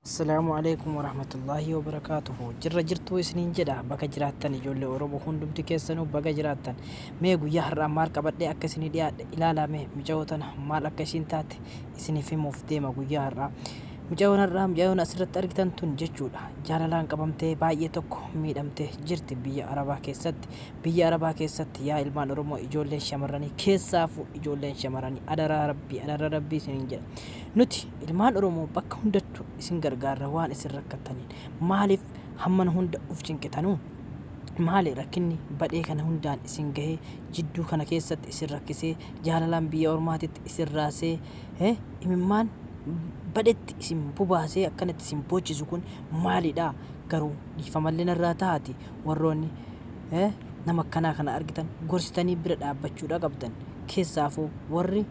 Assalaamu alaikum warahmatullaahi wabarakaatuhu jirra jirtuu isiniin jedha baga jiraattan ijoollee oromoo hundumti keessanuu baga jiraattan mee guyyaa har'aa maal qabadhee akka isinii dhiyaadhe ilaalaa mee micaa'oo tana maal akka isiin taate isiniif himuuf deema guyyaa har'aa Mucayoon har'aa mucayoon asirratti argitan tun jechuudha jaalalaan qabamtee baay'ee tokko miidhamte jirti biyya arabaa keessatti biyya arabaa keessatti yaa ilmaan oromoo ijoolleen shamarranii keessaafu ijoolleen shamarranii adaraa rabbii adaraa rabbii isiniin jedha nuti ilmaan oromoo bakka hundattu isin gargaarra waan isin rakkattaniin maaliif hammana hunda uf cinqitanuu maali rakkinni badhee kana hundaan isin gahee jidduu kana keessatti isin rakkisee jaalalaan biyya ormaatitti isin raasee eh, imimmaan badhetti isin bobaasee akkanatti isin boochisu kun maalidha garuu dhiifamallee narraa tahaati warroonni eh, nama akkanaa kana argitan gorsitanii bira dhaabbachuudha qabdan keessaafuu warri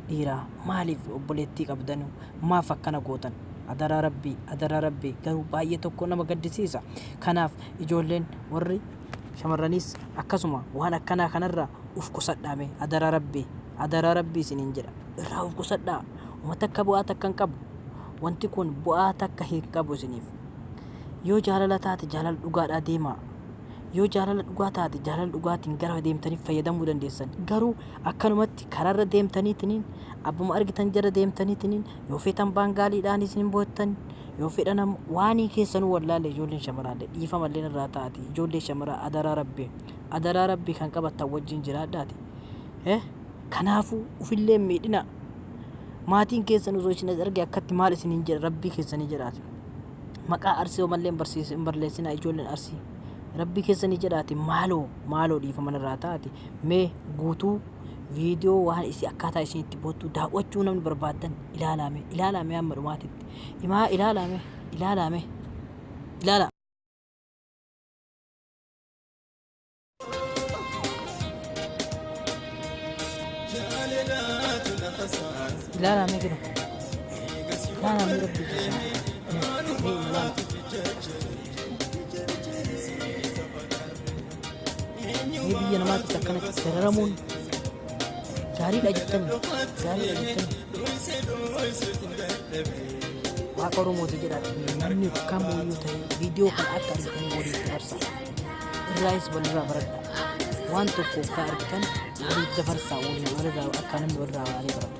dhiiraa maaliif obboleettii qabdanu maaf akkana gootan adaraa rabbii adaraa rabbii garuu baay'ee tokko nama gaddisiisa kanaaf ijoolleen warri shamarraniis akkasuma waan akkanaa kanarraa uf qusadhaa mee adaraa rabbii adaraa rabbii isiniin jedha irraa uf qusadhaa uma takka bu'aa takka hin qabu wanti kun bu'aa takka hin qabu isiniif yoo jaalala taate jaalala dhugaadhaa deemaa yoo jaalala dhugaa taate jaalala dhugaatiin gara deemtanii fayyadamuu dandeessan garuu akkanumatti karaarra deemtaniitiniin abbuma argitan jara deemtaniitiniin yoo feetan baangaaliidhaanis ni mo'attan yoo fedhan am- waanii keessanuu wallaalle ijoolleen shamaraalle dhiifamalleen irraa taati ijoollee shamaraa adaraa rabbi adaraa rabbi kan qabattan wajjin jiraadhaati eh kanaafuu ufillee hin miidhinaa maatiin keessan osoo isin as arge akkatti maal isin hin jedha rabbii keessanii jedhaati maqaa arsii homalleen barsiis hin barleessinaa ijoolleen arsii rabbii keessanii jedhaati maaloo maaloo dhiifaman irraa taati mee guutuu viidiyoo waan isii akkaataa isin itti boottu daawwachuu namni barbaaddan ilaalaame ilaalaame amma dhumaatitti himaa ilaalaame ilaalaame ilaala. ilaalaame jiru ilaalaame rabbi jechaa. Mee biyya namaatti akkanatti dararamuun gaariidha jettani gaariidha jettani waaqa oromooti jedha namni kamuu iyyuu ta'e viidiyoo kana akka argitan waliif dabarsa irraayis walirraa baradha waan tokko akka argitan waliif dabarsa waliin walirraa akka namni walirraa waalii baratu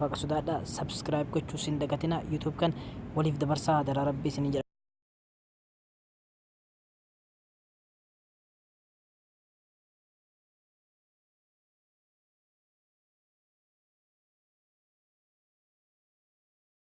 Waaqa sodaadha subscribe gochuu sin dagatina YouTube kan waliif dabarsaa hadaraa rabbii sin jedha.